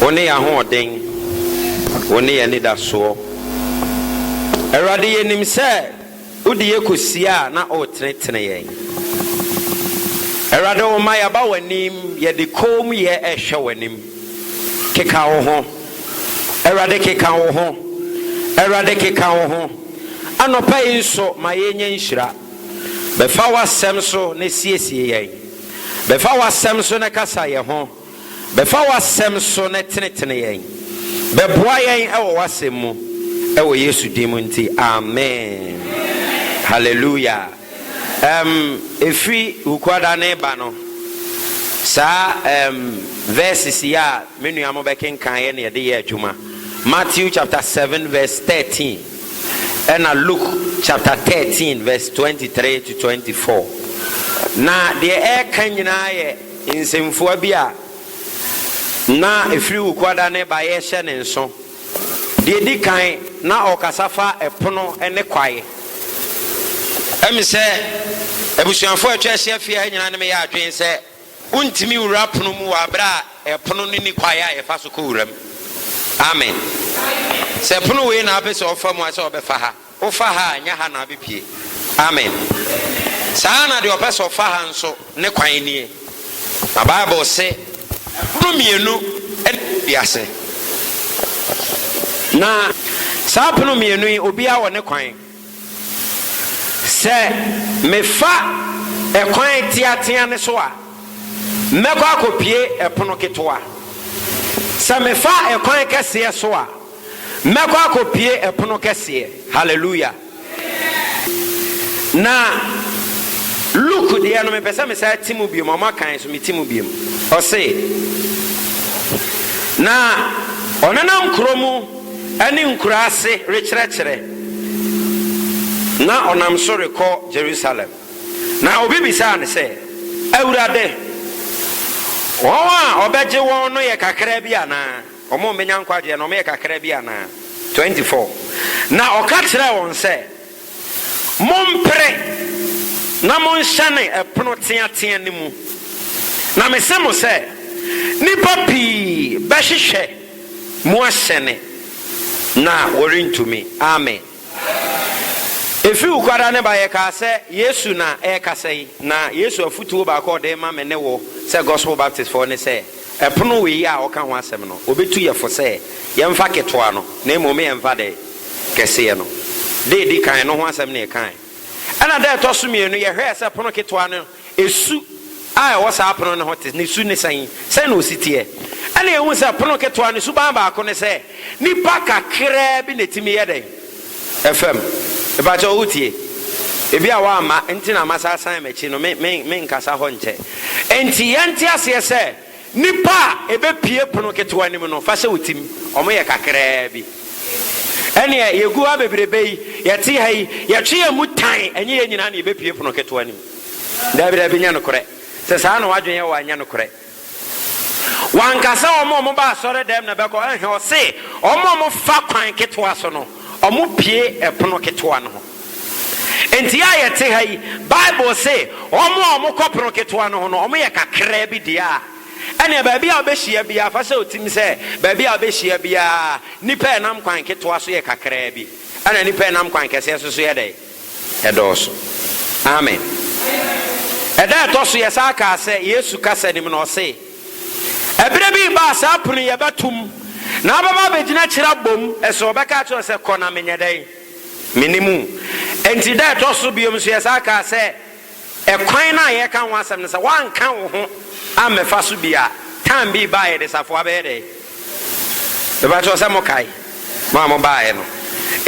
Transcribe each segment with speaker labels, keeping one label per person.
Speaker 1: Wo ne yɛn ahoɔden, Wo ne yɛn anidasoɔ. Awurade, yɛnim sɛ wode yɛ kɔsie a na woretenetene yɛn. Awurade, woma yɛaba w'anim, yɛde koomyɛ rehwɛ w'anim. Keka wo ho, Awurade, keka wo ho, Awurade, keka wo ho. Anɔpa yi nso, ma yɛnya nhyira. Bɛfa w'asɛm so na siesie yɛn. Bɛfa w'asɛm so na kasa yɛ ho. Bɛfa w'asɛm so na tenetene yɛn. Bɛboa yɛn wɔ w'asɛm mu. Wɔ Yesu din mu nti, amen. Hallelujah. Ɛm, ɛfiri Hukuada no reba no, saa ɛm, verses yi a me nua mo bɛkenkaneɛ na yɛde yɛ adwuma. Matthew chapter 7 verse 13. Ɛnna Luke chapter thirteen verse twenty three to twenty four. Na deɛ ɛreka nyinaa yɛ nsɛmfua bi a na ɛfiri Wukuada ne baeɛ hyɛ ne nso. Deɛ ɛdi kan, na ɔrekasa fa ɛpono ne kwaeɛ. Ɛm sɛ abusuafoɔ a atwa ahyia fie ha nyinaa ne me yɛ adwene sɛ. Wontumi nwura pono mu wɔ bere a ɛpono no nni kwae a yɛfa so kɔ wura mu. Amen. Sɛ pono wei na wopɛ sɛ ɔfa mu a, sɛ ɔbɛfa ha. Wofa ha a, ɛnyɛ ha na abɛpue. Amen. Saa ara na deɛ ɔpɛ sɛ ɔfa ha nso, ne kwan nie. Na Bible se, Ɛpono mmienu na ɛwɔ wiase. Na saa pono mmienu yi, obiara wɔ ne kwan. Sɛ mefa ɛkwan teateaa no so a, mɛkɔ akopue ɛpono ketewa. Sɛ mefa ɛkwan kɛseɛ so a, mɛkɔ akopue ɛpono kɛseɛ. Hallelujah! Na Luke deɛ no, mepɛ sɛ mesan te mu biom, ɔma kan so mete mu biom. Ɔse, Na ɔnenam kuro mu. ne nkuraase rekyerɛkyerɛ, na ɔnam so rekɔ Jerusalem. Na obi bisaa no sɛ, Awurade, wɔn a wɔbɛgye wɔn no yɛ kakraa bi anaa? Wɔn a wɔbɛnya nkwagyeɛ no, wɔyɛ kakraa bi anaa? 24 Na ɔka kyerɛɛ wɔn sɛ. Mompere na monhyɛne ɛpono teatea no mu, na mese mo sɛ, nnipa pii bɛhwehwɛ mu ahyɛne, na wɔrentumi. Amen. Ɛfiri Wukwada ne ba, yɛkaa sɛ Yesu na ɛrekasa yi, na Yesu afotuo baako a Ɔde rema me ne wo sɛ Gospel Baptistfoɔ ne sɛ, Ɛpono wei a ɔka ho asɛm no, obetu yɛ fo sɛ yɛmfa ketewa no, na mmom yɛmfa dɛn? Kɛseɛ no. Da a edi kan no ho asɛm na yɛkae. Ɛnna da a ɛtɔ so mmienu no, yɛhwɛɛ sɛ pono ketewa no, su a ɛwɔ saa pono no ho te, ne su ne sɛn? Sɛn na osi teɛ? Ɛnna yɛhui sɛ pono ketewa no suban baako ne sɛ, Nnipa kakraa bi na ɛtumi yɛ dɛn? Ɛfa mu. Mepa kyɛw wotie? Ebi a woamma nti na masa asan m'akyi no, me, me, menkasa hɔ nkyɛ. Enti yɛnte aseɛ sɛ, nnipa a ɛbɛpue pono ketewa no mu no, fa hyɛ wo tim, wɔyɛ kakraa bi. Ɛnneɛ yɛgu ha bebrebe yi, yɛte ha yi, yɛtwe yɛn mu tan, ɛnyɛ yɛn nyinaa na yɛbɛpue pono ketewa no mu. Daabi, daabi, nyɛ nokorɛ. Sɛ saa na w'adwene yɛ wo a, nyɛ nokorɛ. Wanka sɛ wɔn a wɔba asɔredɛm na ɛbɛkɔ, ɛnhɛ, ɔse wɔn a wɔfa kwan ketewa so no, wɔpue ɛpono ketewa no ho. Enti a yɛte ha yi, Bible se wɔn a wɔkɔ pono ketewa no ho no, wɔyɛ kakraa bi deɛ a, ɛnneɛ baabi a wobɛhyia biara, fa hyɛ wo tim sɛ, baabi a wobɛhyia biara, nnipa a ɛnam kwan ketewa so yɛ kakraa bi, ɛna nnipa a ɛnam kwan kɛseɛ so so yɛ dɛn? ɛdɔɔso. Amen. Ɛda a ɛtɔ so yɛsan kaa sɛ Yesu kasa nim no, ɔse, Ɛberɛ bi reba a saa pono yi ɛbɛtom, na abɛba abɛgyina akyiri abom, ɛso ɔbɛka akyerɛ wɔn sɛ, Kɔ na menyɛ dɛn? Menni mu. Enti da a ɛtɔ so biom nso yɛsan kaa sɛ, Ɛkwan no a yɛreka ho asɛm no sɛ woanka wo ho ammɛfa so bi a, time bi baa yɛde safoa bɛyɛ dɛn? Mepakyɛw sɛ mokae? Mo a mobaeɛ no.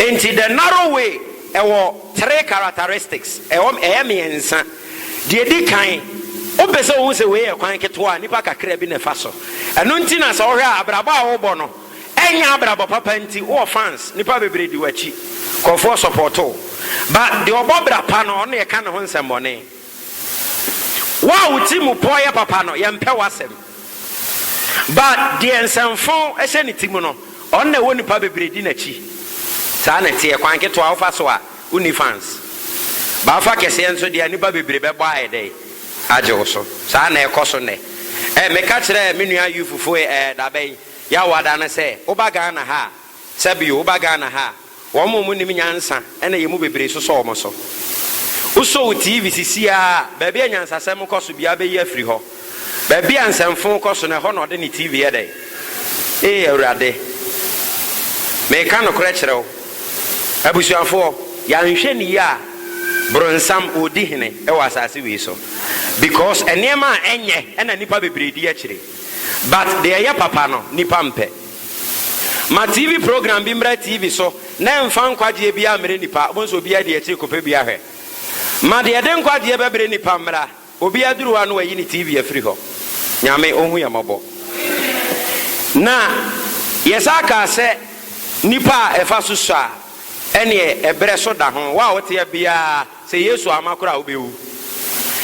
Speaker 1: Enti the narrow way ɛwɔ three characteristics, ɛwɔ ɛyɛ mmiɛnsa. Deɛ ɛdi kan, wopɛ sɛ wohu sɛ wei yɛ kwan ketewa a nnipa kakra bi na ɛfa so. Ɛno nti na sɛ wohwɛ a abrabɔ a wobɔ no, Ɛnyɛ abrabɔ papa nti wowɔ fans, nnipa bebree di w'akyi, nkurɔfoɔ support wo. But deɛ ɔbɔ bra pa no, ɔno na yɛka ne ho nsɛmmɔne. Wo a wo ti mu pɔ yɛ papa no, yɛmpɛ w'asɛm. But deɛ nsɛmfo hyɛ ne ti mu no, ɔno na ɛwɔ nnipa bebree di n'akyi. Saa na ɛteɛ, kwan ketewa wofa so a, wonni fans. But wofa kɛseɛ nso deɛ a, nnipa bebree bɛbɔ ayɛ dɛn? Agye wo so. Saa na ɛrekɔ so nnɛ. Ɛɛ, meka kyerɛɛ me nua Youth foe ɛɛ, da bɛn? Yaw ada no sɛ woba Ghana ha a, sɛ bio, woba Ghana ha a, wɔn a wɔnnim nyansa na yɛn mu bebree sosɔ wɔn so. Wosɔ wo TV si siaa a, baabi a nyansasɛm kɔ so biara bɛyi afiri hɔ. Baabi a nsɛmfoo kɔ so no, ɛhɔ na ɔde ne TV yɛ dɛn? Ee Awurade! Mereka nokorɛ kyerɛ wo, abusuafoɔ, yɛanhwɛ no yie a, bronsam ɔredi hene wɔ asase wei so. Because nneɛma a ɛnyɛ na nnipa bebree di akyire. But deɛ ɛyɛ papa no nipa mpɛ. Ma TV program bi mmra TV so na ɛmfa nkwagyeɛ biara mmrɛ nipa, wobɛhu sɛ obiara di akyiri kɔpɛ bi ahwɛ. Ma deɛ ɛde nkwagyeɛ bɛbrɛ nipa mmra, obi aduru hɔ a na wayi ne TV afiri hɔ. Nyame ɔhu yɛn mmɔbɔ. Na yɛsan kaa sɛ nipa a ɛfa so sɔ a ɛneɛ ɛbrɛ so da ho. Wo a woteɛ biara. Sɛ Yesu amma koro a, wubewu.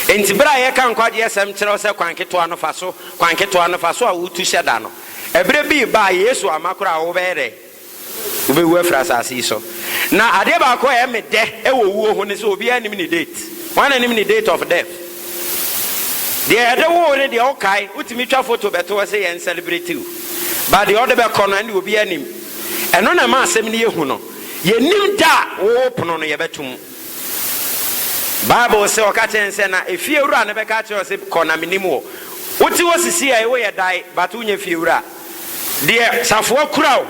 Speaker 1: Enti bere a yɛka nkwagye asɛm kyerɛ wo sɛ kwan ketewa no fa so, kwan ketewa no fa so a wutu hyɛ da no, bere bi reba a Yesu amma koro a wobɛyɛ dɛn? Wubewu afiri asase yi so. Na adeɛ baako a ɛyɛ me dɛ wɔ owuo ho ne sɛ obiara nnim ne date. Hwan na nim ne date of death? Deɛ yɛde wo wo ne deɛ wokae, wotumi twa foto bɛto hɔ sɛ yɛn celebrate wo. But deɛ ɔde bɛkɔ no, ɛnde obiara nnim. Ɛno na ɛma asɛm no yɛ hu no. Yɛnnim da a wɔwɔ pono no, yɛbɛto mu. Bible se, Ɔka kyerɛɛ no sɛ, na efiewura no bɛka akyerɛ wo se, Kɔ, na mennim wo. Wote hɔ sisiɛi, woyɛ dae, but wonyɛ fiewura. Deɛ safoa kura wo,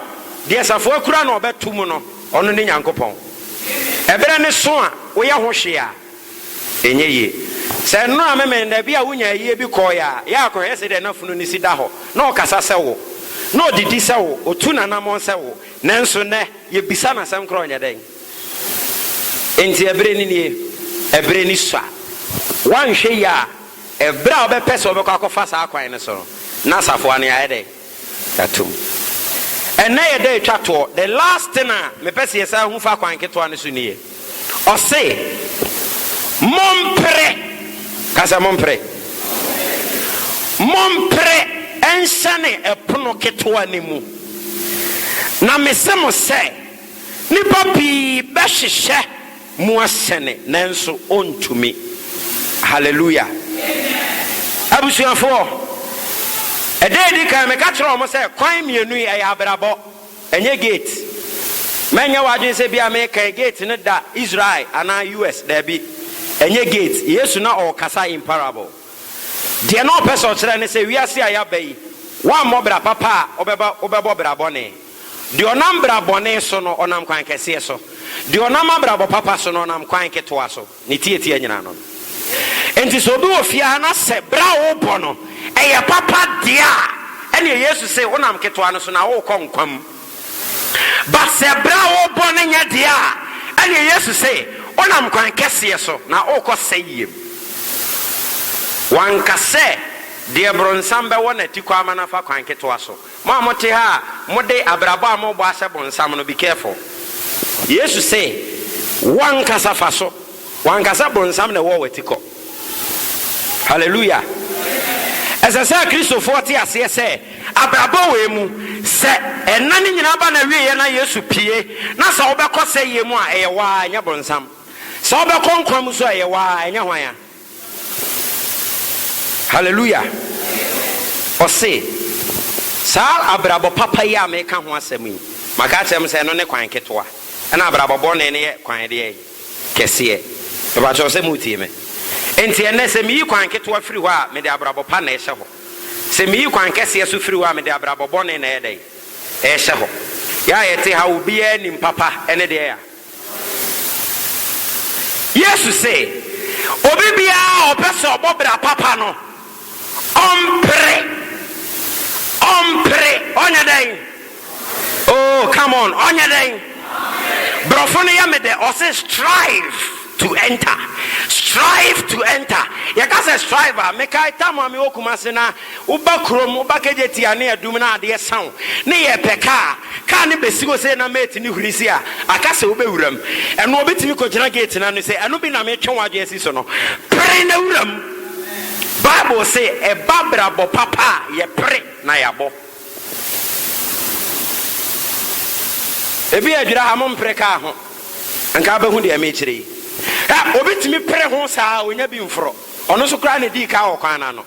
Speaker 1: deɛ safoa kura no a ɔbɛto mu no, ɔno ne Nyankopɔn. Ɛberɛ no so a woyɛ ho hwee a, ɛnyɛ yie. Sɛ nnora a memee nnɛ, bi a wonya ayie bi kɔɔeɛ a, yɛ a kɔhwɛ sɛdeɛ n'afunu no si da hɔ. Na ɔkasa sɛ wo. Na ɔdidi sɛ wo, ɔtu n'anammɔn sɛ wo. Nanso nnɛ, yebisa no asɛm koro, Ɔnyɛ dɛn? Enti ɛbere no nie, ɛbere no sua. Woanhwɛ yie a, ɛbere a wobɛpɛ sɛ wobɛkɔ akɔfa saa kwan no so no, na asafo ano yɛayɛ dɛn? Yɛato mu. Ɛnnɛ yɛ da a etwa toɔ. The last thing a mepɛ sɛ yɛsan hu fa kwan ketewa no so nie. Ɔse, Mompere, ka sɛ, Mompere, mompere nhyɛne ɛpono ketewa no mu. Na mese mo sɛ, nnipa pii bɛhwehwɛ mu ahyɛne, nanso wɔntumi. Hallelujah! Abusuafoɔ, ɛda a ɛdi kan meka kyerɛɛ wɔn sɛ kwan mmienu yi ɛyɛ abrabɔ. Ɛnyɛ gate. Mɛnyɛ w'adwene sɛ ebia merekɛn gate no da Israel anaa US. Dabi. Ɛnyɛ gate. Yesu na ɔrekasa in parable. Deɛ na ɔpɛ sɛ ɔkyerɛ ne sɛ wiase a yɛaba yi, woammɔ bra papa a, wobɛba wobɛbɔ bra bɔne. Deɛ ɔnam bra bɔne so no, ɔnam kwan kɛseɛ so. Deɛ ɔnam abrabɔ papa so no, ɔnam kwan ketewa so. Ne tiatia nyinaa no no. Enti sɛ obi wɔ fie ha na sɛ bra a wobɔ no yɛ papa deɛ a, ɛneɛ Yesu se wonam ketewa no so na worekɔ nkwa mu. But sɛ bra a wobɔ no nyɛ deɛ a, ɛneɛ Yesu se wonam kwan kɛseɛ so na worekɔ sɛeɛ mu. Wanka sɛ deɛ bronsam bɛwɔ no atikɔ ama no afa kwan ketewa so. Mo a mote ha a mode abrabɔ a morebɔ ahyɛ bonsam no, be careful. Yesu se, Wo ankasa fa so. Wo ankasa bonsam na ɛwɔ w'atikɔ. Hallelujah! Ɛsɛ sɛ Kristofoɔ te aseɛ sɛ, abrabɔ wei mu, sɛ nna no nyinaa ba n'awieɛ na Yesu pue, na sɛ wobɛkɔ sɛeɛ mu a, ɛyɛ wo ara, ɛnyɛ bonsam. Sɛ wobɛkɔ nkwa mu nso a, ɛyɛ wo ara, ɛnyɛ hwan a. Hallelujah! Ɔse, Saa abrabɔ papa yi a meka ho asɛm yi, maka akyerɛ mo sɛ ɛno ne kwan ketewa, ɛna abrabɔ bɔne no yɛ kwan deɛn? Kɛseɛ. Mepakyɛw sɛ moretie me? Enti ɛnnɛ sɛ meyi kwan ketewa firi hɔ a, mede abrabɔ pa na ɛhyɛ hɔ. Sɛ meyi kwan kɛseɛ so firi hɔ a, mede abrabɔ bɔne na ɛyɛ dɛn? Ɛhyɛ hɔ. Yɛ a yɛte ha, obiara nim papa ne deɛn a. Yesu se, Obi biara a ɔpɛ sɛ ɔbɔ bra papa no, ɔmpere, ɔmpere, ɔnyɛ dɛn? Oh, come on, ɔnyɛ dɛn? Borɔfo no yɛ me dɛ, ɔse strive to enter, strive to enter. Yɛka sɛ strive a, mekae tam a mewɔ Kumasi na Woba kurom, woba Kejetia a ne adum na adeɛ sa wo ne yɛpɛ kaa, kaa no bɛsi hɔ sei na mate ne huri sei a, aka sɛ wobɛwura mu. Ɛno ɔbɛtumi kɔgyina gate no ano sɛ, ɛno bi na metwe w'adwene asi so no. Pere na wura mu. Bible se ɛba abrabɔ papa a, yɛpere na yɛabɔ. Ebi a adwira ha, mompere kaa ho. Anka wobɛhu deɛ mekyerɛ yi. Ɛ, obi tumi pere ho saa a, ɔnya bi mforɔ. Ɔno nso koraa na ɛdii kaa wɔ kwan no ano.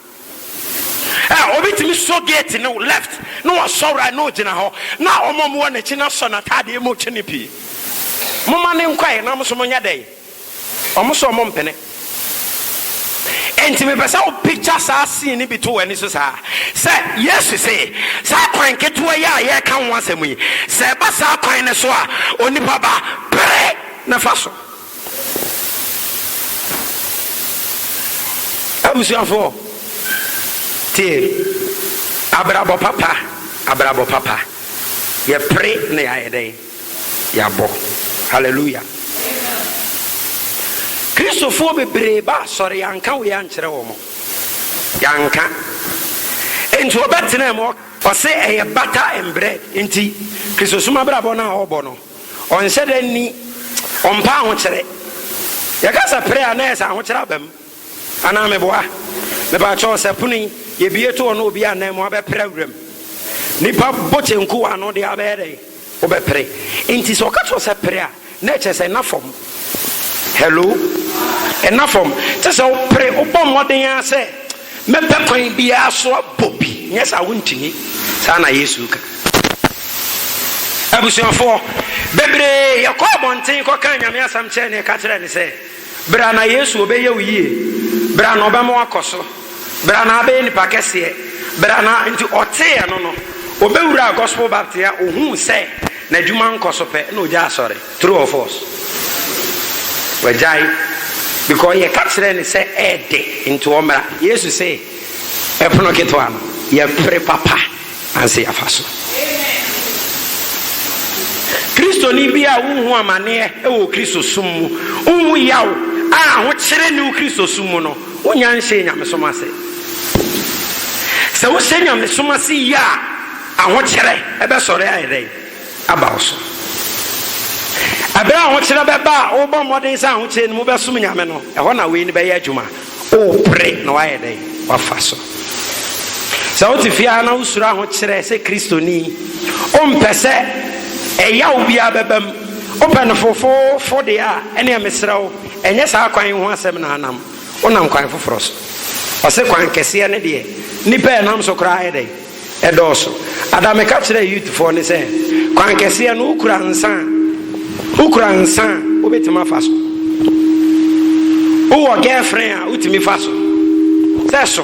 Speaker 1: Ɛ, obi tumi sɔ gate no left na wasɔ right na ogyina hɔ na wɔn a wɔwɔ n'akyi no asɔ n'ataadeɛ mu kyene pii. Momma no nkɔ ɛ na mo nso monyɛ dɛn? Wɔn so wɔn mpene. Enti mepɛ sɛ wo picture saa scene no bi to w'ani so saa, sɛ Yesu se, saa kwan ketewa yi a yɛreka ho asɛm yi, sɛ ɛba saa kwan no so a, onipa ba, pere na fa so. Abusuafo, tie! Abrabɔ papa, abrabɔ papa, yɛpere na yɛayɛ dɛn? Yɛabɔ. Hallelujah! Kristofoɔ bebree ba asɔre, yɛanka wei ankyerɛ wɔn. Yɛanka. Enti ɔbɛtenaa mu, ɔse ɛyɛ bata mbrɛ nti Kristosom abrabɔ no a ɔbɔ no. Ɔnhyɛ da nni, ɔmpɛ ahokyere. Yɛka sɛ pere a, na ɛyɛ sɛ ahokyere aba mu. Anaa meboa? Mepakyɛw, sɛ pono yi, yɛbue to hɔ na obi annan mu a, wobɛpere awura mu? Nnipa bɔ kyenku wɔ ano deɛ a, wobɛyɛ dɛn? Wobɛpere. Enti sɛ ɔka kyerɛ wo sɛ pere a, na ɛkyerɛ sɛ ɛna fam. Hello? Ɛna fam. Te sɛ wopere, wobɔ mmɔden ara sɛ Mɛpɛ kwan biara so abɔ bi, nyɛ saa a wontumi. Saa na Yesu reka. Abusuafoɔ bebree, yɛkɔɔ abɔnten kɔkaa Nyame asɛm kyerɛɛ no, yɛka kyerɛɛ no sɛ, Berɛ a na Yesu ɔbɛyɛ wo yie, berɛ a na ɔbɛma woakɔ so, berɛ a na abɛyɛ nipa kɛseɛ, berɛ a na, nti ɔtee ɛno no, ɔbɛwuraa Gospel Baptist a, ɔhuu sɛ n'adwuma nkɔ so pɛ, na ɔgyaa asɔre. True or false? Wagyae because yɛka kyerɛɛ no sɛ ɛɛdɛ nti ɔmmra. Yesu se ɛpono ketewa no yɛpere papa ansa yɛafa so. Kristoni bi a wonhu amaneɛ wɔ Kristosom mu, wonhu yaw a ahokyere nni wo Kristosom mu no, wonnya nhyɛɛ nyamesom ase. Sɛ wohyɛ nyamesom ase yie a, ahokyere bɛsɔre ayɛ dɛn? aba wo so. Bere a ahokyerɛ bɛba a wobɔ mmɔden sɛ ahokyerɛ no mu wobɛsom Nyame no, ɛhɔ na wei no bɛyɛ adwuma. Worepere na woayɛ dɛn? Woafa so. Sɛ wote fie ara na wosuro ahokyerɛ sɛ Kristoni, wompɛ sɛ ɛyaw biara bɛba mu, wopɛ no fofoofo deɛ a, ɛneɛ mesrɛ wo, ɛnyɛ saa kwan yi ho asɛm na anam. Wonam kwan foforɔ so. Ɔse kwan kɛseɛ no deɛ, nnipa a ɛnam so koraa ayɛ dɛn? Ɛdɔɔso. Ada meka kyerɛɛ youth foɔ no sɛ kwan kɛseɛ no wo kura nsa a wo kura nsa a wo bɛtumi afa so. Wo wɔ girlfriend a wo tumi fa so. Sɛ so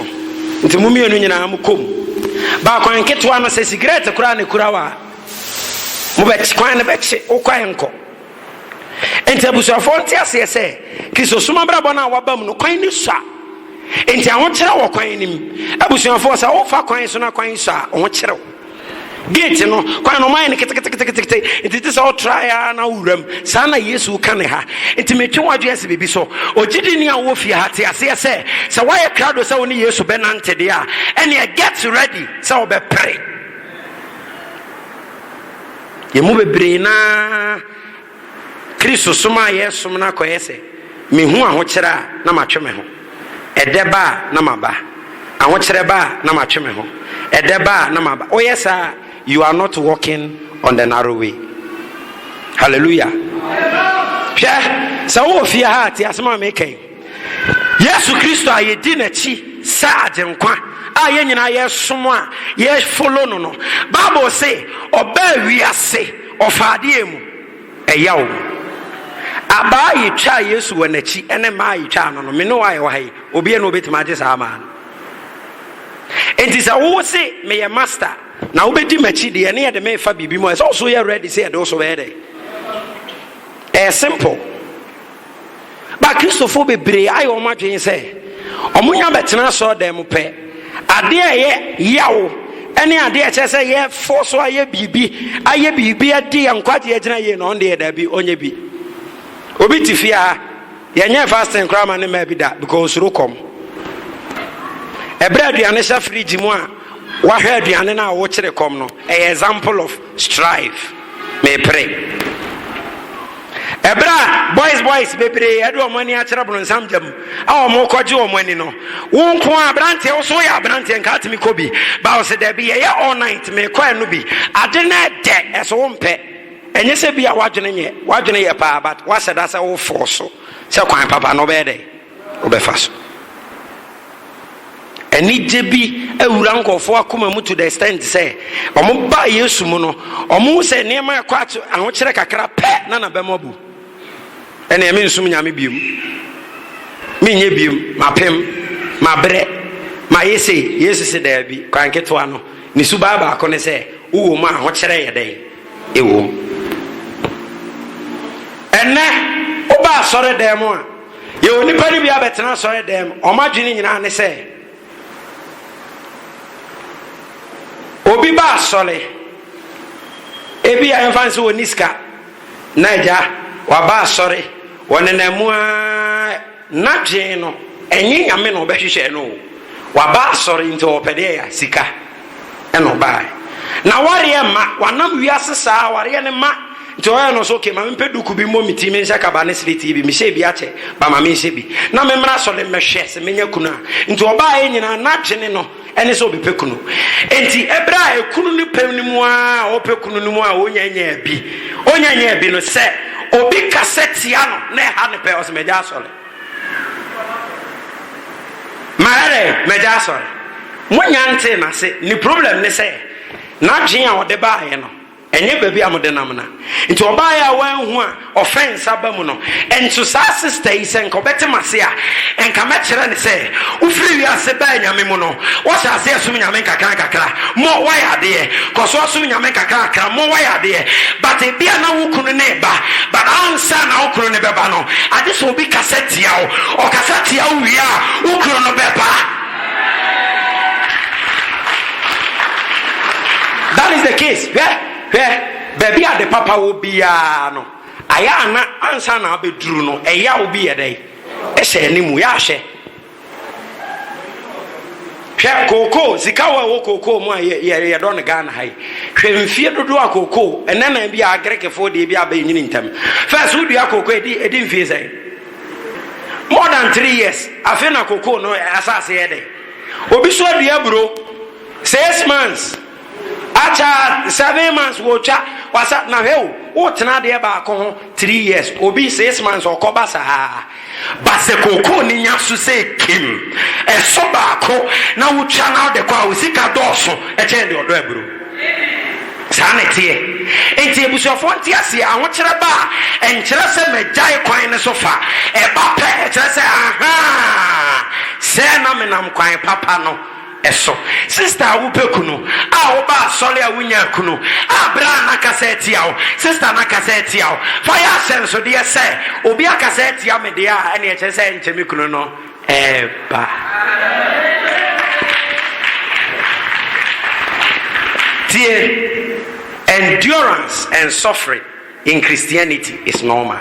Speaker 1: nti mo mmienu nyinaa mo kɔ mu. Ba kwan ketewa no sɛ sigrɛt koraa na ɛkura wo a mo bɛ kwan no bɛkye wo kwan nkɔ. Enti abusuafoɔ nte aseɛ sɛ Kristosom abrabɔ no a wɔabam no kwan no sua, enti ahokyerɛ wɔ kwan no mu. Abusuafoɔ, sɛ wofa kwan so na kwan sua a, ho kyere wo. Gate no, kwan no wɔayɛ no keteketekete, enti te sɛ wotra ara na wowura mu. Saa na Yesu ka ne ha. Enti metwe w'adwene asi biribi so. Ogyidini a ɔwɔ fie ha te aseɛ sɛ, sɛ woayɛ krado sɛ wo ne Yesu bɛnante deɛ a, ɛnneɛ get ready sɛ wobɛpere. Yɛn mu bebree no ara Kristosom a yɛresom no akɔyɛ sɛ, Mihu ahokyere a, na matwe me ho. Ɛdɛ ba a, na maba. Ahokyerɛ ba a, na matwe me ho. Ɛdɛ ba a, na maba. Woyɛ saa a, you are not walking on the narrow way. Hallelujah. Hwɛ, sɛ wowɔ fie ha a, te asɛm a meka yi. Yesu Kristo a yedi n'akyi sɛ Agyenkwa a yɛn nyinaa yɛsom a yɛfollow no no, Bible se ɔbaa wiase, ɔfaa deɛ mu? Ɛyaw mu. Abaa a yetwaa Yesu wɔ n'akyi ne mmaa a yetwaa no no, me ne wo a yɛwɔ ha yi, obiara nni hɔ a obetumi agye saa mmaa no. Enti sɛ wose meyɛ master na wobedi m'akyi deɛ, ɛne yɛde me refa biribi mu a, ɛsɛ sɛ wo nso yɛ ready sɛ yɛde wo nso bɛyɛ dɛn? Ɛyɛ simple. Ba Kristofo bebree ayɛ wɔn adwene sɛ wɔnya bɛtena asɔredan mu pɛ. Adeɛ a ɛyɛ yaw ne adeɛ a ɛkyerɛ sɛ yɛfo so ayɛ biribi, ayɛ biribi adi yɛn nkwagye agyina yie na ɔno deɛ daabi ɔnyɛ bi. Obi te fie a yɛnyɛ fasting koraa ma ne mmaa bi da because osuro kɔm. Ɛberɛ aduane hyɛ fridge mu a wahwɛ aduane no a wokyere kɔm no ɛyɛ example of Strive, Mepere. Ɛberɛ a boys boys bebree ɛde wɔn ani akyerɛ bronsam gya mu a wɔn rekɔgye wɔn ani no, wo nko ara aberanteɛ wo so yɛ aberanteɛ nka atumi kɔ bi ba ɔsɛ daabi yɛyɛ all night mekɔ ɛno bi ade no ɛdɛ ɛso wo mpɛ ɛnyɛ sɛ bi a wadwene nyɛ wadwene yɛ paa but wasɛ da sɛ wo fɔɔ so sɛ kwan papa no bɛyɛ dɛ wobɛfa so. Anigye bi awura nkurɔfoɔ akoma mu to the extent sɛ wɔn baa Yesu mu no, wɔn ho sɛ nneɛma ɛkɔ ato ahokyerɛ kakra pɛ na na bɛma bu. Ɛna ɛmi nsum nyame biom, mi nyɛ biom, ma pem, ma brɛ, ma yɛ se Yesu se daabi kwan ketewa no. Ne su baa baako ne sɛ wowɔ mu a ahokyerɛ yɛ dɛn ɛwɔ mu. Ɛnɛ wobaa sɔre dan mu a Yɛwɔ nnipa no bi abɛtena asɔredan mu, wɔn adwene nyinaa ne sɛ obi ba asɔre, ebi a yɛmfa nso wɔn ni sika, na agya waba asɔre, wɔnenam mu ara, n'adwene no ɛnyɛ nyame na ɔbɛhwehwɛ no o, waba asɔre nti ɔpɛ deɛ ya sika. ɛna ɔbaae na awareɛ mma wanam wiase saa awareɛ no mma nti ɔyɛ no so okay ma mempɛ duku bi mmɔ me ti menhyɛ kaba ne sletii bi mehyɛ bi akyɛ ba ma menhyɛ bi na memmra asɔre mmɛhwɛ sɛ menya kunu a nti ɔbaaeɛ nyinaa n'adwene no ɛne sɛ ɔbɛpɛ kunu nti ɛberɛ a ɛkunu no pɛ no mu a ɔpɛ kunu no mu a ɔnya nya bi ɔnya nya bi no sɛ obi kasɛ tia no na ɛha ne pɛ ɔsɛ magya asɔre Marɛrɛ m'agya asɔre mo nnya ntee nase ne problem ne sɛ nadwene a ɔde baayɛ no ɛnyɛ baabi a mode nam na nti ɔbaayɛ a wanhu a offense aba mu no nso saa sister yi sɛ nka ɔbɛte mase a nka mɛkyerɛ no sɛ Wofiri wiase baa anyame mu no, wɔhyɛ aseɛ som nyame nkakrankakra, mo wayɛ adeɛ, kɔ so som nyame nkakrankakra, mo wayɛ adeɛ, but ebia na wo kunu no reba, but ansa na wo kunu no bɛba no, agye sɛ obi kasa tia wo, ɔkasa tia wo wie a, wo kunu no bɛba. That is the case, hwɛ, hwɛ, baabi a ade papa wɔ biara no, ayɛ a na ansa na abɛduru no, ɛyaw bi yɛ dɛn? Hyɛ yɛn anim yɛ ahwɛ. Hwɛ kookoo, sika wɔ ɛwɔ kookoo mu a yɛdɔ no Ghana ha yi. Hwɛ mfie dodoɔ a kookoo, ɛnɛ na bi a Agirikfoɔ deɛ bi aba ɛnyini ntɛm. Fɛs wodua kookoo ɛdi ɛdi mfie sɛn? More than three years, afei na kookoo no asase yɛ dɛ. Obi so adua aburo, six months. Akyɛ a seven months wotwa wasa na hwɛ o wotena adeɛ baako ho three years obi six months ɔkɔba saa but sɛ kookoo no nya so sɛ kim ɛso baako na wotwa na wode kɔ a wo sika dɔɔso kyɛn deɛ ɔdɔ aburo saa na ɛteɛ nti abusuafoɔ nte aseɛ ahokyerɛ ba a ɛnkyerɛ sɛ magyae kwan no so fa ɛba pɛ ɛkyerɛ sɛ ahaa sɛ na menam kwan papa no so. Sista a wopɛ kunu a woba asɔre a wonyaa kunu a bere a n'akasa atia wo sista n'akasa atia wo fa yɛ ahyɛnsodeɛ sɛ obi akasa atia me deɛ a ɛne ɛkyerɛ sɛ ɛnkyɛ me kunu no ɛɛba tie endurance and suffering In Christianity is normal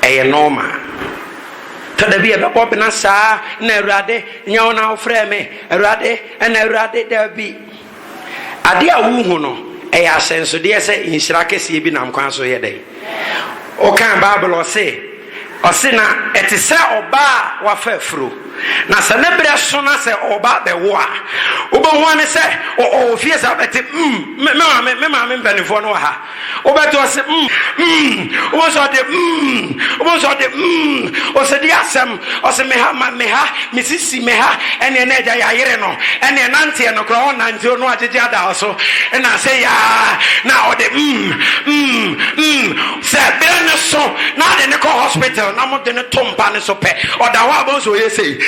Speaker 1: ɛyɛ normal tɔ da bi ɛbɛbɔ bena saa na awurade nyɛ wo na wofrɛ me awurade ɛna awurade da bi adeɛ a wohu no ɛyɛ ahyɛnsodeɛ sɛ nhyira kɛseɛ bi nam kwan so yɛ dɛn wokaa bible ɔse Ɔse na ɛte sɛ ɔbaa a wafa afuro na sɛ ne berɛ so na sɛ ɔɔba abɛwo a wobɛhu ane sɛ ɔwɔ fie saa wobɛte mm me maame me maame mpaninfoɔ no wɔ ha wobɛte ɔse mm mm wobɛhu sɛ ɔde mm wobɛhu sɛ ɔde mm ɔsɛ di asɛm ɔse me ha ma me ha me sisi me ha ɛneɛ na agya yɛayere no ɛneɛ nanteɛ no koraa ɔnanteɛ no agyegye ada so na sɛ yaa na ɔde mm mm mm Sɛ bere no so na wɔde no kɔ hospital na wɔde no to mpa no so pɛ, ɔda hɔ a bɛhu sɛ ɔyɛ sei.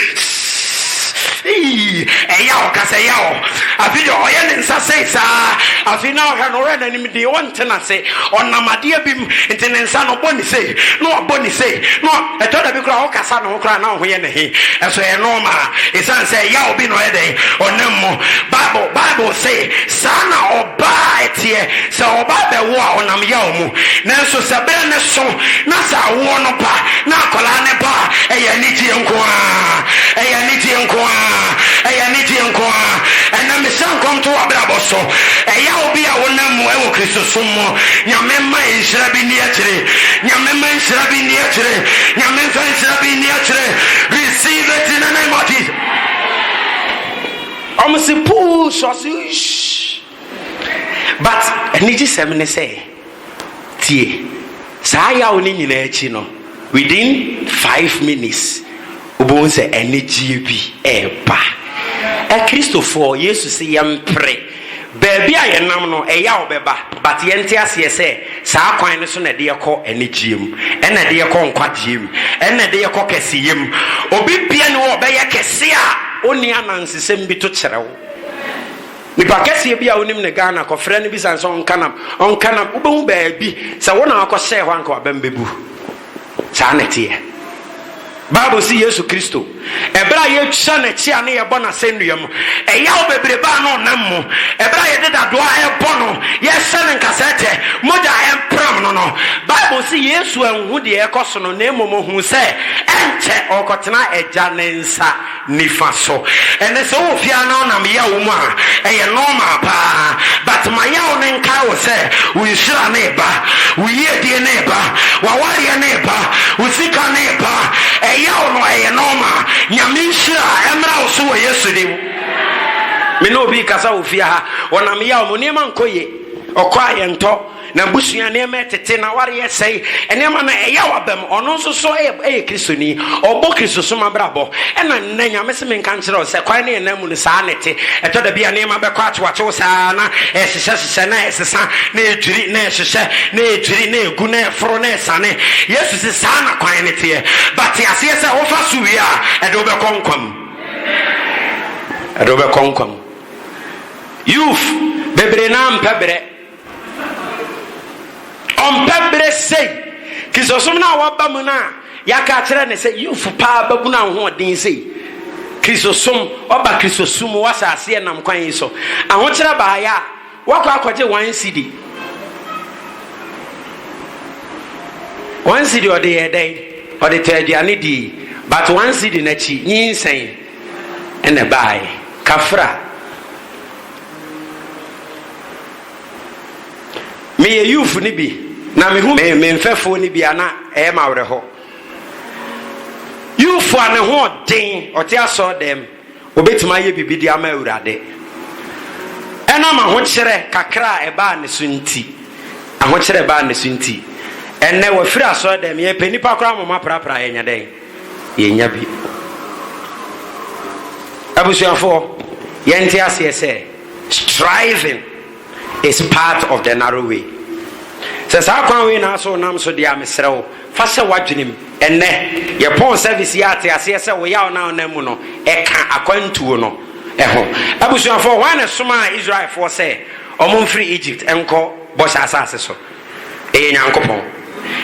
Speaker 1: Ii! Ɛya wo, kasa ya wo. Afei deɛ ɔyɛ ne nsa sei saa. Afei na wohwɛ no, wohwɛ n'anim dee, wonte no ase. Ɔnam adeɛ bi mu, nti ne nsa no, ɔbɔ ne sei, na wabɔ ne sei, na wa. Ɛtɔ da bi koraa a, wokasa ne ho koraa na wo ho yɛ no he. So ɛyɛ nɔɔmaa? Esiane sɛ ɛyaw bi na ɔyɛ dɛn? Ɔnam mu. Bible Bible se, Saa na ɔbaa teɛ. Sɛ ɔbaa bɛwo a, ɔnam yaw mu. Nanso sɛ bere no so na sɛ awoɔ no ba na akwadaa no ba a, ɛyɛ anigyeɛ nko ara. Ɛyɛ anigyeɛ nko ara. Ɛyɛ anigyeɛ nko ara. Ɛnam mehyɛ nkɔm to w'abrabɔ so. Ɛyaw bi a wonam mu wɔ Kristosom mo. Nyame mma nhyira bi nni akyire. Nyame mma nhyira bi nni akyire. Nyame mfa nhyira bi nni akyire. Receive it in the name of Jesus. Ɔmo se push ɔse shh but anigye sɛm ne sɛ tie saa yaw ne nyinaa akyi no within five minutes Wobɛhu sɛ anigyeɛ bi reba. Akristofoɔ, Yesu se yɛmpere. Baabi a yɛnam no, ɛyaw bɛba, but yɛnte aseɛ sɛ saa kwan no so na ɛde yɛkɔ anigyeɛ mu, ɛna ɛde yɛkɔ nkwagyeɛ mu, ɛna ɛde yɛkɔ kɛseyɛ mu. Obi biara nni hɔ a ɔbɛyɛ kɛse a ɔnni anansesɛm bi to kyerɛ wo. Nipa kɛseɛ bi a wonim no Ghana, kɔfrɛ no bisa no sɛ ɔnka nam, ɔnka nam, wobɛhu baabi sɛ wo na wakɔhyɛɛ hɔ a anka w'abam bɛbu. Saa na ɛteɛ. Bible se Yesu Kristo, ɛberɛ a yɛtwa N'akyi a ne yɛbɔ No asɛnnua mu, ɛyaw bebrebe a na Ɔnam mu, ɛberɛ a yɛde dadoa rebɔ No, yɛrehyɛ No nkasɛɛtɛ, mogya a ɛrempram No no, Bible se Yesu anhu deɛ ɛrekɔ so no, na mmom Ɔhuu sɛ ɛnkyɛ Ɔrekɔtena Agya ne nsa. nifa so ɛnɛ sɛ wowɔ fie a na wonam yaw mu a ɛyɛ normal paa but ma yaw no nkae wo sɛ wo nhyira no reba wo yiedie no reba wawareɛ no reba wo sika no reba ɛyaw no ɛyɛ normal nyame nhyira ɛmmra wo so wɔ yesu dim me ne obi kasa wɔ fie ha ɔnam yaw mu nneɛma nkɔ ye ɔkɔ a yɛntɔ Na abusua nneɛma yɛ tete, na aware yɛ sɛe. Nneɛma no ɛyaw aba mu. Ɔno nso so yɛ ɛyɛ Kristoni. Ɔbɔ Kristosom abrabɔ. Ɛna nnɛ, Nyame se menka nkyerɛ wo sɛ kwan ne yɛn nan mu no, saa na ɛte. Ɛtɔ da bi a nneɛma bɛkɔ atewatew saa ara, na ɛhyehyɛhyehyɛ, na ɛsesa, na ɛdwiri, na ɛhyehyɛ, na ɛdwiri, na ɛgu, na ɛforo, na ɛsane. Yesu se saa na kwan no teɛ. But te aseɛ sɛ wofa so wie a, ɛde wo bɛkɔ nkwa mu. Ɛde wo bɛkɔ nkwa mu. Youth bebree no ara mpɛ berɛ. Ɔmpɛ bere sei. Kristosom no a waba mu no a yɛaka akyerɛ no sɛ Yufo paa babunu ahoɔden sei. Kristosom, ɔba Kristosom mu, wasa aseɛ nam kwan yi so. Ahokyerɛ baeɛ a, wakɔ akɔgye one sidi. One sidi ɔde yɛ dɛn? Ɔde tɔ aduane die. But one sidi n'akyi, nyinsɛn ɛna baeɛ. Kafra. Meyɛ youth no bi na mehu me me mfɛfoɔ no bi a na ɛyɛ ma awerɛhɔ. Youth a ne ho ɔden ɔte asɔr dɛm obetumi ayɛ biribi de ama Awurade. Ɛnam ahokyerɛ kakra a ɛbaa ne so nti, ahokyerɛ ɛbaa ne so nti, ɛnnɛ wafiri asɔr dɛm yɛpɛ nipa koraa moma prapra yɛnyɛ dɛn. yɛnya bi. Abusuafoɔ, yɛnte aseɛ sɛ striving is part of the narrow way. Sɛ saa kwan wei na asɛ ɔnam so deɛ a mesrɛ wo fa hyɛ w'adwenem ɛnɛ yɛpɔn service yɛ ate aseɛ sɛ wo yaw na ɔnam mu no ɛka akwantuo no ɛho. Abusuafoɔ, hwan na ɛsomaa Israelfoɔ sɛ wɔn mfiri Egypt nkɔ bɔhyɛ asase so? Ɛyɛ Nyankopɔn.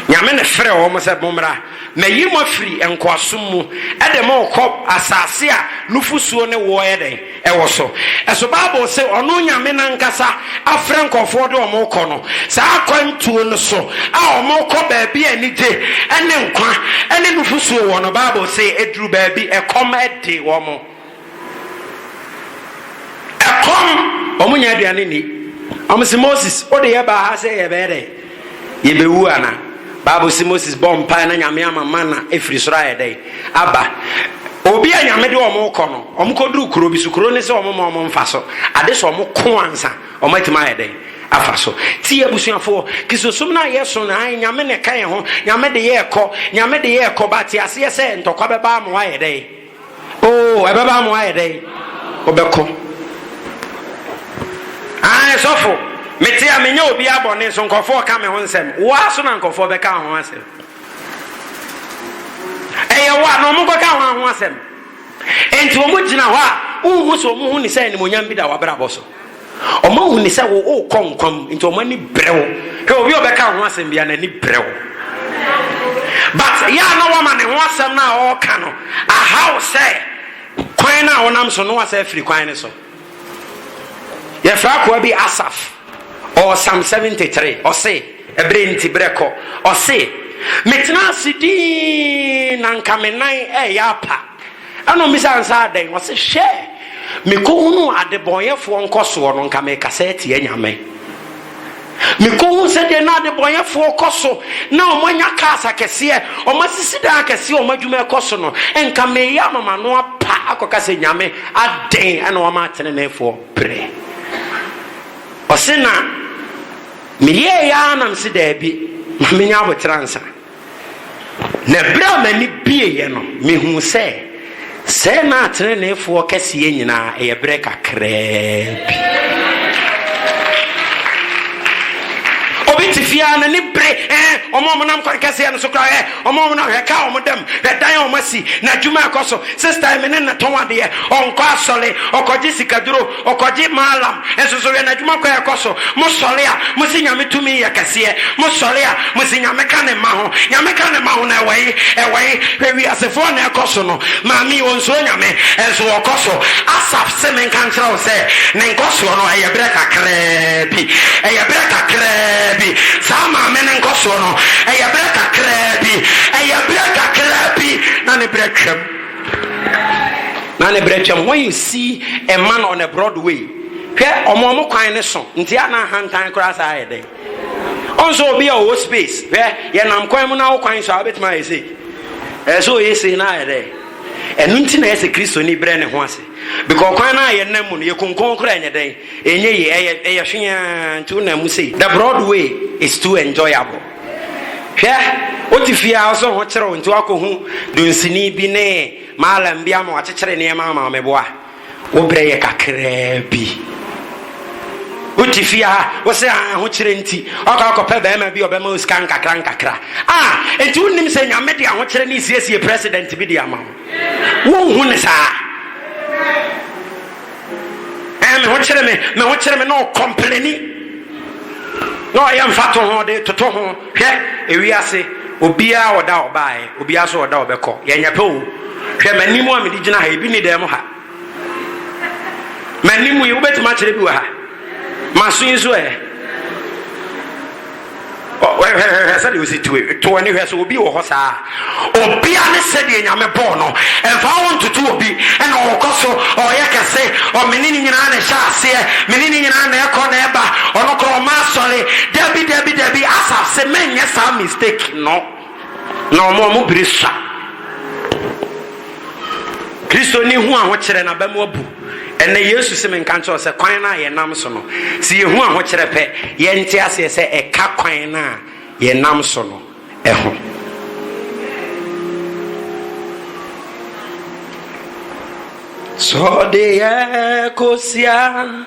Speaker 1: Nyame na frɛɛ wɔn sɛ, Mommra, mayi mo afiri nkoasom mu de mo rekɔ asase a nufosuo ne woɔ yɛ dɛn? wɔ so. So Bible se Ɔno Nyame no ankasa afrɛ nkorɔfoɔ ɔde wɔn rekɔ no? Saa akwantuo no so a wɔn rekɔ baabi a anigye ne nkwa ne nufosuo wɔ no, Bible se ɛduru baabi ɛkɔm de wɔn. Ɛkɔm, wɔn nya aduane nni. Wɔn se Moses, wo de yɛbaa ha sɛ yɛbɛyɛ dɛ? Yɛbɛwu ana? Bible se Moses bɔɔ mpae na Nyame ama mana efiri soro ayɛ dɛ? Aba. Obi a Nyame de wɔn kɔ no, wɔn kɔduru kuro bi so, kuro ne se wɔn ma wɔn mfa so. Ade sɛ wɔn ko ansa wɔn atumi ayɛ dɛ? Afa so. Tie abusuafoɔ, Kristosom no a yɛso no, ae, Nyame na ɛka yɛn ho, Nyame de yɛɛkɔ, Nyame de yɛɛkɔ, but te aseɛ sɛ ntɔkwa bɛba ama wɔayɛ dɛ? Oo, ɛbɛba ama woayɛ dɛn? Wobɛko. Ae, sɔfo, mete a menyɛ obiara bɔne, nso nkurɔfoɔ ka me ho nsɛm. Wo ara so na nkurɔfoɔ bɛka wo ho asɛm. Ɛyɛ wo a, na wɔkɔka ho ho asɛm. Enti wɔgyina hɔ a, wonhu sɛ wɔn ho ni sɛ animuonyam bi da w'abrabɔ so. Wɔahu no sɛ worekɔ nkwa mu, nti wɔn ani brɛ wo. Hwɛ obi a ɔbɛka wo ho asɛm biara, n'ani brɛ wo. But yɛ a na wama ne ho asɛm no a ɔreka no ahaw sɛ kwan no a wonam so no wasa afiri kwan no so. Yɛfrɛ akoa bi Asaf, ɔwɔ Psalm 73, ɔse, ɛberɛ nti berɛ kɔ, ɔse, metena ase dii na nka me nan ɛyɛ apa. Ɛna ɔmmisaa no sɛ, Adɛn? Ɔse, Hwɛ! Mekɔhunuu adebɔneyɛfoɔ nkɔsoɔ no, nka merekasa atia Nyame. Mekɔhunu sɛdeɛ na adebɔneyɛfoɔ kɔ so, na wɔanya cars akɛseɛ, wɔasisi dan akɛseɛ, wɔn adwuma rekɔ so no, nka mereyɛ ama m'ano apa akɔka sɛ, Nyame, adɛn na woama ateneneefoɔ brɛ? Ɔse, Na meyɛeɛ ara na mese, Daabi, ma menyɛ aboterɛ ansa. Na bere a m'ani bueeɛ no, mehuu sɛ, sɛɛ na ateneneefoɔ kɛseɛ nyinaa, ɛyɛ berɛ kakraa bi. Obi te fie a, n'ani bere, ɛɛ, wɔn a wɔnam kwan kɛseɛ no so koraa, hwɛ, wɔn a wɔnam, hwɛ, kaa wɔn dam, hwɛ, dan a wɔasi, na adwuma ɛkɔ so, sista yi, me ne no tɔn adeɛ, ɔnkɔ asɔre, ɔkɔgye sikaduro, Ɔkɔgye Maalam nso so, hwɛ n'adwuma kɔ a ɛkɔ so, mosɔre a mose Nyame tumi yɛ kɛseɛ, mosɔre a mose Nyame ka ne mma ho, Nyame ka ne mma ho no ɛwɔ he? Ɛwɔ he? Hwɛ wiasefoɔ na ɛkɔ so no, maame yi ɔnsuro Nyame nso ɔkɔ so, Asaf se menka nkyerɛ wo sɛ ne nkɔsoɔ no ɛyɛ berɛ kakraa bi, ɛyɛ berɛ kakraa bi, saa maame no nkɔsoɔ no ɛyɛ berɛ kakraa bi, ɛyɛ berɛ kakraa bi na ne berɛ twam. Na ne brɛ twam wɔn nsi mma no on a Broadway hwɛ ɔmo ɔmo kwan ne so nti a na ahantan koraa saa ayɛ dɛ ɔnso obi a ɔwɔ space hwɛ yɛ nam kwan mu na wo kwan so a wobɛtumi ayɛ sei ɛyɛ sɛ ɔyɛ sei na ayɛ dɛ ɛno nti na ɛyɛ sɛ kristoni brɛ ne ho ase bikɔ kwan no a yɛ nam mu no yɛ konkon koraa ɛnyɛ dɛn ɛnyɛ yi ɛyɛ ɛyɛ hweaa nti wo nam mu sei the Broadway is too enjoyable. Hwɛ, wote fie a wosɔ ho kyerew nti woakɔhu dunsini bi ne malam bi ama wakyekyere nneɛma ama me boa. Wo berɛ yɛ kakraa bi. Wote fie a wosɛ ahokyerɛ nti wakɔ akɔpɛ barima bi ɔbɛma wo sika nkakra nkakra. A enti wonnim sɛ Nyame de ahokyerɛ ne siesie president bi de ama wo. Wonhu ne saa? Ɛɛ, me ho kyere me, me ho kyere me, na ɔkɔmpleni, na ɔyɛ mfatoho de toto ho. Hwɛ, ewiase, obiara wɔ da a ɔbaeɛ, obiara nso wɔ da a ɔbɛkɔ. Yɛnyɛ pɛ o. Hwɛ, m'anim a mede gyina ha yi, ebi nni dan mu ha. M'anim yi, wobɛtumi akyerɛ bi wɔ ha? M'aso yi nso ɛ? Hwɛ sɛdeɛ ɔsi to to ani hwɛ sɛ obi wɔ hɔ saa obia ne sɛdeɛ nyame bɔɔ no ɛmfa wo ntoto obi ɛna ɔkɔ so ɔyɛ kɛse ɔmene ne nyinaa na ɛhyɛ aseɛ mene ne nyinaa na ɛkɔ na ɛba ɔno korɔ ɔma asɔre dabi dabi dabi asaf se menyɛ saa mistake no Na wɔn a wɔn bere sua. Kristoni hu ahokyerɛ na bɛmo abu. Ɛnɛ Yesu se menka nkyerɛ wo sɛ kwan no a yɛnam so no, se yɛhu ahokyerɛ pɛ, yɛnte aseɛ sɛ ɛka kwan no a yɛnam so no ho. Sɔde yɛ kosia.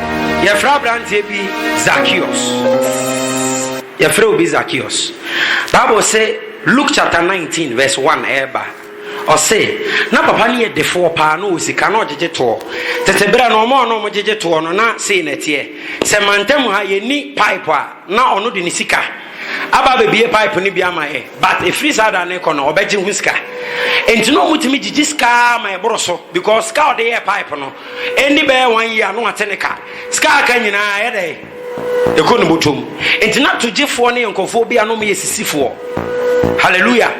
Speaker 1: Yɛfrɛ aberanteɛ bi Zacchaeus. Yɛfrɛ obi Zacchaeus. Bible se Luke chapter 19 verse 1 ɛreba. Ɔse na papa no yɛ defoɔ paa na ɔwɔ sika na ɔgyegye toɔ. Tete berɛ no ɔmo a na ɔmo gyegye toɔ no na sei na ɛteɛ. Sɛ mantam ha yɛnni pipe a na ɔno de ne sika aba abɛbie pipe no bi ama yɛ. But ɛfiri saa da no rekɔ no ɔbɛgye ho sika. Enti na ɔmo tumi gyegye sika ma ɛboro so because sika a ɔde yɛɛ pipe no Ɛnni bɛyɛ one year no wate ne ka. Sika a aka nyinaa ɛyɛ dɛ ɛkɔ ne bɔtɔm. Nti na togyefoɔ ne nkurɔfoɔ bi a na wɔyɛ sisifoɔ. Hallelujah.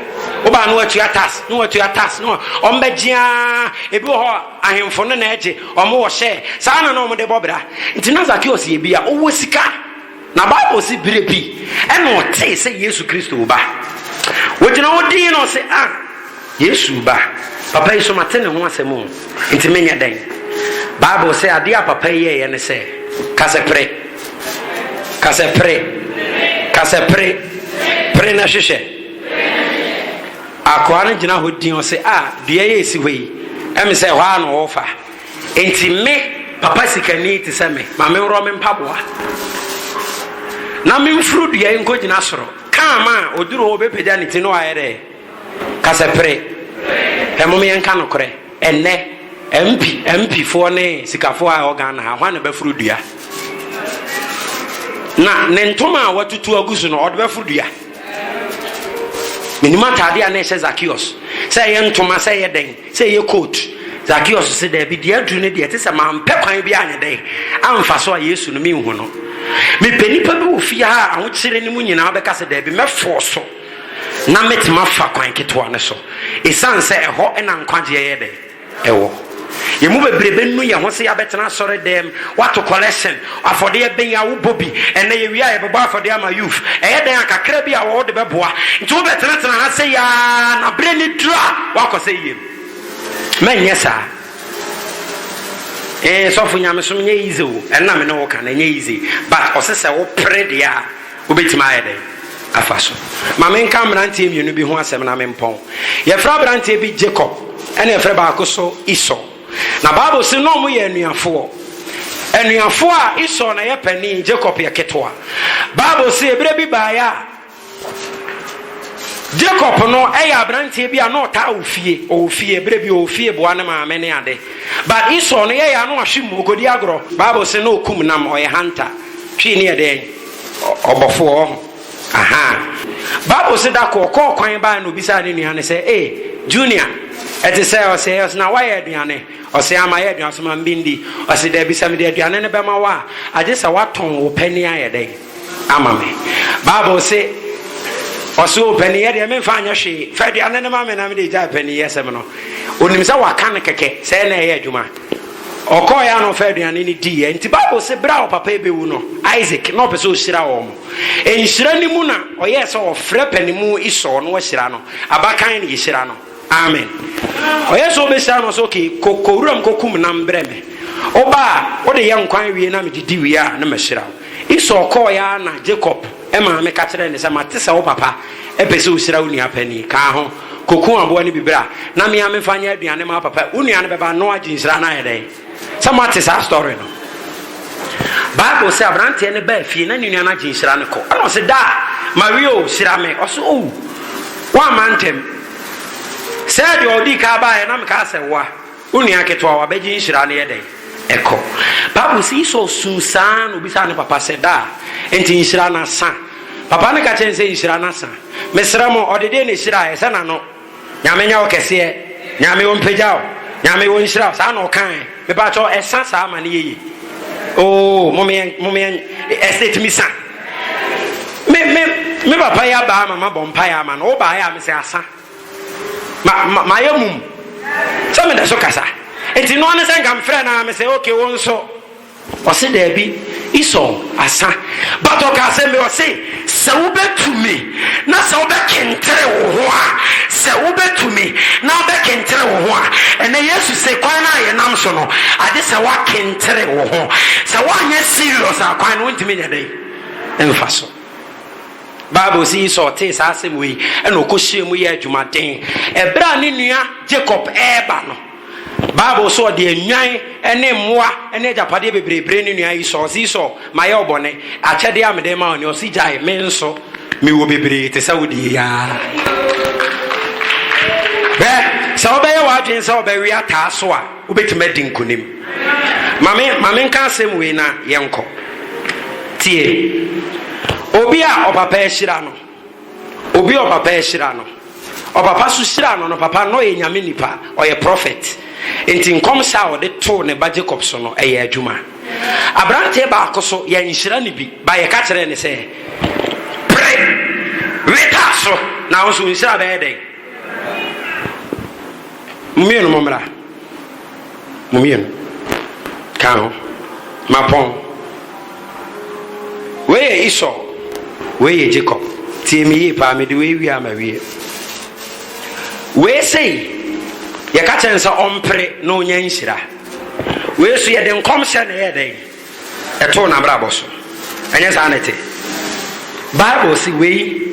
Speaker 1: Wobaa no atua tax, no atua tax, no ɔmbɛgye ara. Ebi wɔ hɔ ahemfo no na ɛgye, wɔn wɔ hyɛ. Saa na na wɔde bɔ bra. Nti na Zacchaeus yɛ bi a ɔwɔ sika. Na Bible se bere bi na ɔtee sɛ Yesu Kristo reba. Ogyina hɔ dinn na ɔse, Ah, Yesu reba. Papa yi so mate ne ho asɛm o, enti menyɛ dɛn? Bible se adeɛ a papa yi yɛeɛ ne sɛ, Ka sɛ pere. Ka sɛ pere. Ka sɛ pere. Pere na hwehwɛ. Akoa no gyina hɔ dinn, ɔse, Ah, dua yi a ɛsi hɔ yi, ɛme sɛ ɛhɔ ara na ɔrefa. Enti me papa sikani te sɛ me ma menworɔ me mpaboa na memforo dua yi nkɔgyina soro kaa ma a ɔduru hɔ ɔbɛpagya ne ti no ayɛ dɛ ka sɛ pere ɛmom yɛnka nokorɛ ɛnnɛ mp mpifoɔ ne sikafoɔ a ɛwɔ ghana ha hwan na bɛforo dua na ne ntoma a watutu agu so no ɔde bɛforo dua Menim atade a na ɛhyɛ Zakeus, sɛ ɛyɛ ntoma, sɛ ɛyɛ dɛn, sɛ ɛyɛ coat. Zakeus se, Daabi, deɛ aduru no deɛ, ɛte sɛ mampɛ kwan bi anyɛ dɛn amfa so a Yesu no menhu no. Mepɛ nnipa bi wɔ fie ha a ahokyere no mu nyinaa wobɛka sɛ daabi, mɛforo so na metumi afa kwan ketewa no so, esiane sɛ ɛhɔ na nkwagyeɛ yɛ dɛn. wɔ. Yɛn mu bebree bɛnu yɛn ho sɛ yɛabɛtena asɔredɛm, woato kɔlɛhyen, afɔdeɛ bɛn a wobɔ bi, ɛnnɛ yɛwie a yɛbɛbɔ afɔdeɛ ama youth, ɛyɛ dɛn a kakra bi a wɔwɔ de bɛboa, nti wobɛtenatena ha sɛi ara na berɛ no duru a woakɔ sɛ yɛm. Mɛnyɛ saa. Ee, sɔfo nyamesom nyɛ easy o, ɛno na me ne wo ka no, ɛnyɛ easy, but ɔse sɛ wopere deɛ a, Wobɛtumi ayɛ dɛn afa so? Ma menka mmeranteɛ mmienu bi ho asɛm na mempɔn. Yɛfrɛ aberanteɛ bi Jacob ɛna yɛfrɛ baako nso Esau. Na Bible se na wɔyɛ anuafoɔ. Anuafoɔ a Esau na yɛ panin, Jacob yɛ ketewa. Bible se ɛberɛ bi baeɛ a Jacob no yɛ aberanteɛ bi a na ɔtaa wɔ fie. Ɔwɔ fie, ɛberɛ bi ɔwɔ fie boa ne maame ne ade. But Esau no yɛyɛ a na wahwe mu, ɔkɔdi agorɔ. Bible se na ɔkum nam, ɔyɛ hunter. Twi ne yɛ dɛn? Ɔbɔfoɔ ahaa. Bible se da koro ɔkɔɔ kwan baeɛ na ɔbisaa ne nua no sɛ, E, Junior, ɛte sɛ? Ɔse, Ɛyɛ ɔse, na woayɛ aduane? Ɔse, Aa, mayɛ aduane. Ɔse, Ma me bi ndi. Ɔse, Daabi, sɛ mede aduane no bɛma wo a, agye sɛ woatɔn wo panin ayɛ dɛn? Ama me. Bible se, Ɔse, O, paninyɛ deɛ memfa nyɛ hwee. Fa aduane no ma me na mede agyae paninyɛsɛm no. Ɔnim sɛ waka no kɛkɛ, sɛ ɛyɛ na ɛyɛ adwuma. Ɔkɔeɛ a na ɔfa aduane no diiɛ. Nti Bible se berɛ a ɔpapa rebɛwu no, Isaac, na ɔpɛ sɛ ɔhyira wɔn. Nhyira no mu na ɔyɛɛ sɛ ɔfrɛ panimu Esau na wahyira no. Abakan na yɛhyira no. Amen. Ɔyɛɛ sɛ ɔbɛhyira no sɛ, okay, kɔ, kɔ wuram kɔkum nam brɛ me. Woba a, wode yɛ nkwan wie na mede di wie a, na mahyira wo. Esau kɔeɛ ara na Jacob Maame ka kyerɛɛ no sɛ, Mate sɛ wo papa pɛ sɛ ohyira wo nua panin. Ka ho, kɔku aboa no bi bra na me ara memfa nyɛ aduane mma wo papa. Wo nua no bɛba na wagye nhyira no ayɛ dɛn? Sɛ moate saa story no. Bible sɛ aberanteɛ no baa fie na ne nua no agye nhyira no kɔ. Ɛna ɔse, Daa, Maria o, hyira me. Ɔse, O, woamma ntɛm. Sɛ deɛ ɔdii kan baeɛ na mekaa sɛ woa. Wo nua ketewa a wabɛgye nhyira no yɛ dɛn? Ɛkɔ. Bible se Esau suu saa ara na obisaa ne papa sɛ, Daa, enti nhyira no asa? Papa no ka kyerɛɛ no sɛ, Nhyira no asa. Mesrɛ mo, ɔde deɛ na ɛhyiraeɛ, sɛ n'ano, Nyame nyɛ wo kɛseɛ, Nyame ɔmpagya wo, Nyame ɔnhyira wo, saa na ɔkaeɛ. Mepaakyɛw, ɛsa saa ma no yɛ yie. Oo, momeɛ, momeɛ, ɛsɛ ɛtumi sa. Me, me, me papa yi abaa ma mabɔ mpaeɛ ama no, wobaeɛ a mesɛ asa. Ma, ma, mayɛ mum sɛ meda so kasa. Enti noa ne sɛ nka mfrɛ no ara, mesɛ, Ok, wo nso? Ɔse, Daabi, Esau asa. But ɔkaa asɛm bi, ɔse, Sɛ
Speaker 2: wobɛtumi, na sɛ wobɛkentere wo ho a, sɛ wobɛtumi, na wobɛkentere wo ho a. Ɛnnɛ, Yesu se, Kwan no a yɛnam so no, agye sɛ woakentere wo ho. Sɛ woanyɛ serious a, kwan no, wontumi nyɛ dɛn mfa so. Bible se Esau tee saa asɛm wei, ɛnna ɔkɔhyɛɛ mu yɛɛ adwumaden. Ɛberɛ a ne nua Jacob reba no, Bible se ɔde nnwan ne mmoa ne agyapadeɛ bebree bree ne nua Esau. Ɔse, Esau, mayɛ wo bɔne. Akyɛdeɛ a mede rema wo ni. Ɔse, Gyae, me nso mewɔ bebree te sɛ wo deɛ yi ara. Hwɛ, sɛ wobɛyɛ w'adwene sɛ wobɛwe ataa so a, Wobɛtumi adi nkonim. Ma me, ma menka asɛm wei na yɛnkɔ. Tie. Obi a ɔpapa ahyira no, obi a ɔpapa ahyira no, ɔpapa so hyira no no, papa no ɔyɛ nyame nipa, ɔyɛ prɔfɛt. Nti nkɔmhyɛ a ɔde too ne ba Jacob so no, ɛyɛ adwuma. Aberanteɛ baako so, yɛanhyira no bi, ba yɛka kyerɛɛ no sɛ, Pere, weta so, na wo nso wo nhyira bɛyɛ dɛn? Mo mmienu mo mmra. Mo mmienu. Ka ho. Mapɔn. Wei yɛ Esau. Wei yɛ Jacob. Tie me yie paa mede wei wie ama wie. Wei sei yɛka kyerɛ no sɛ ɔmpere na ɔnya nhyira. Wei so yɛde nkɔmhyɛ na ɛyɛ dɛn? ɛtoo n'abrabɔ so. Ɛnyɛ saa na ɛte? Bible se wei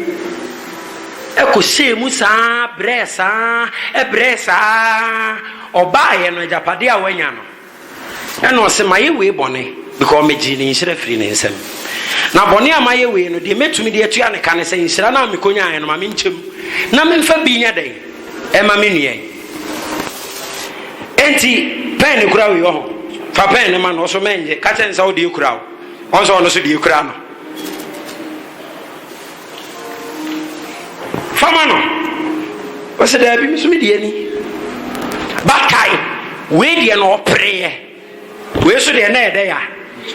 Speaker 2: ɛkɔhyɛɛ mu saa brɛɛ saa ɛbrɛɛ saa ɔbaayɛ no agyapadeɛ a wanya no ɛna ɔse mayɛ wei bɔne because megyee ne nhyira firi ne nsam na bɔne a mayɛ wei no deɛ mɛtumi de atua ne ka ne sɛ nhyira no a mekɔnyaeɛ no ma menkyɛm na memfa bi nyɛ dɛn ɛma me nua yi Enti pɛn ne kura wei ɔho fa pɛn ne ma no ɔso mɛnyɛ ka kyɛ nsa ɔde ekura o ɔnso ɔno so de ekura no fama no ɔsɛ daabi mi so mi deɛ ni bakae wei deɛ na ɔpereɛ wei so deɛ na ɛdɛ ya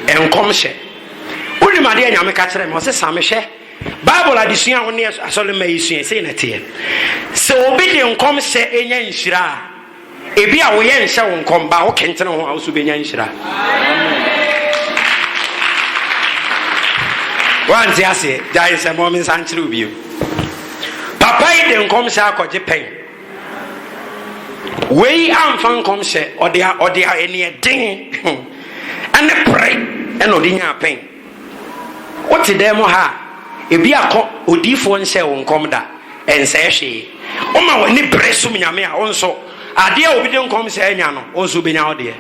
Speaker 2: nkɔm hyɛ wonim adeɛ nyame ka kyerɛ mi ɔsɛ same hwɛ Bible adesua a wo ne asɔremma yi sua yi, sei na ɛteɛ, Sɛ obi de nkɔmhyɛ nya nhyira a, ebia wo yɛnhyɛ wo nkɔm, baa wokentene ho a, wo nso wobɛnya nhyira. Woante aseɛ? Gyae nsɛmmɔ, mensa nkyerɛ wo bio. Papa yi de nkɔmhyɛ akɔgye pɛn. Wei amfa nkɔmhyɛ, ɔde ɔde ɛneɛ den ɛne pere ɛna ɔde nyaa pɛn. Wote dan mu ha a, ebi akɔ, odiyifoɔ nhyɛɛ wo nkɔm da, ɛnsɛe hwee. Woma w'ani bere som Nyame a, wo nso, adeɛ a obi de nkɔmhyɛ anya no, wo nso wobɛnya wo deɛ.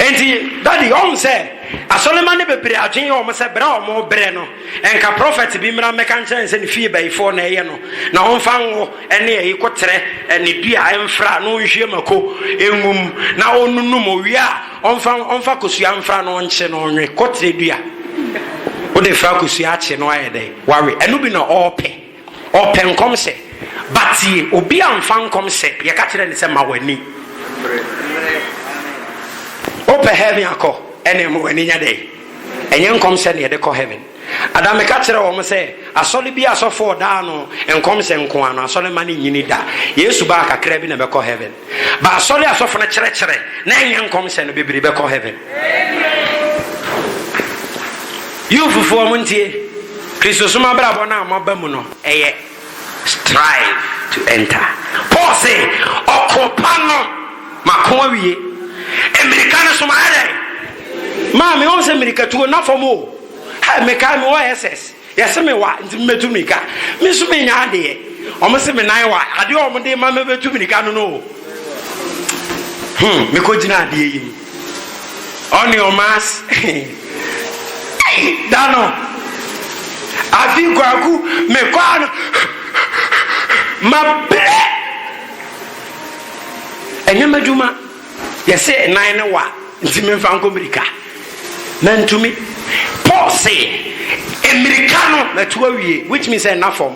Speaker 2: Enti, Daddy, ɔhu sɛ asɔremma no bebree adwene yɛ wɔn sɛ berɛ a wɔrebrɛ no, nka prɔfɛt bi mmra mmɛka nkyerɛ no sɛ ne fie bayifoɔ na ɛyɛ no, na ɔmfa nwo. ne ayi kɔtrɛ ne dua a ɛmfra na ɔnhwie mako ngu mu na ɔnnunu mu ɔwie a ɔmfa ɔmfa kosua mfra na ɔnkye na ɔnwe kɔtrɛ dua wode fra kosua akye no ayɛ dɛn wawe ɛno bi na ɔɔpɛ ɔpɛ nkɔm sɛ batie obi a mfa nkɔm sɛ yɛka kyerɛ ne sɛ ma w'ani wopɛ heaven akɔ ɛne ma w'ani nyɛ dɛn ɛnyɛ nkɔm sɛ ne yɛde kɔ heaven Ada meka kyerɛɛ wɔn sɛ, Asɔre bi asɔfo ɔda ano nkɔmhyɛ nko ara no, asɔre mma no nnyini da. Yesu baa kakraa bi na ɛbɛkɔ heaven. Ba asɔre asɔfo no kyerɛkyerɛ na ɛnyɛ nkɔmhyɛ no, bebree bɛkɔ heaven. Yufofo, wɔntie. Kristosom abrabɔ no a moaba mu no, ɛyɛ. Strive to enter. Paul se, Ɔko pa no mako awie. Mmirika no nso mayɛ dɛn? Maa me. Wohu sɛ mmirikatuo nna fam o. Hɛ, mekae mewɔ SS, yɛse me wa nti mebɛtu mmirika. Me nso mennya adeɛ. Wɔn se me nan wa. Adeɛ a wɔn de ma me bɛtu mmirika no no o. Hmm, mekɔgyina adeɛ yi mu. Ɔne ɔma as ei da no afi kwaku me kɔa no ma bere ɛnyɛ m'adwuma yɛse nan ne wa nti memfa nkɔ mmirika mantumi Paul se mmirika no matu awie which means ɛnna fam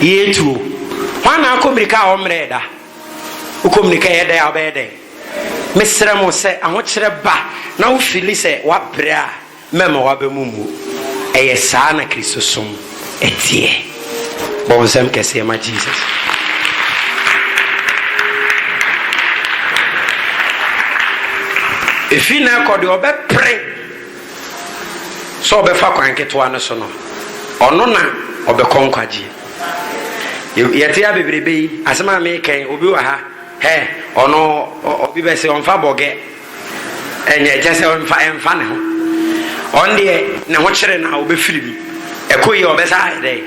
Speaker 1: Yetwo. Hwan na akɔ mmirika a ɔmmrɛɛ da? Wokɔ mmirika a ɛyɛ dɛ a, wobɛyɛ dɛn? Mesrɛ mo, sɛ ahokyerɛ ba na wufili sɛ woabrɛ a, mɛmma w'aba mu mmu. Ɛyɛ saa na Kristosom teɛ. Bɔ wo nsam kɛseɛ ma Jesus. Efi nnɛ kɔ deɛ ɔbɛpere sɛ ɔbɛfa kwan ketewa no so no, ɔno na ɔbɛkɔ nkwagyeɛ. Yɛte a bebrebe yi, asɛm a meekɛn, obi wɔ ha, hɛ, ɔno obi bɛse ɔmfa bɔgɛ, ɛnyɛ kyɛ sɛ ɔmfa ɛmfa ne ho. Ɔn deɛ ne ho kyere no a ɔbɛfiri mu, ɛkɔ yi ɔbɛsa ayɛ dɛ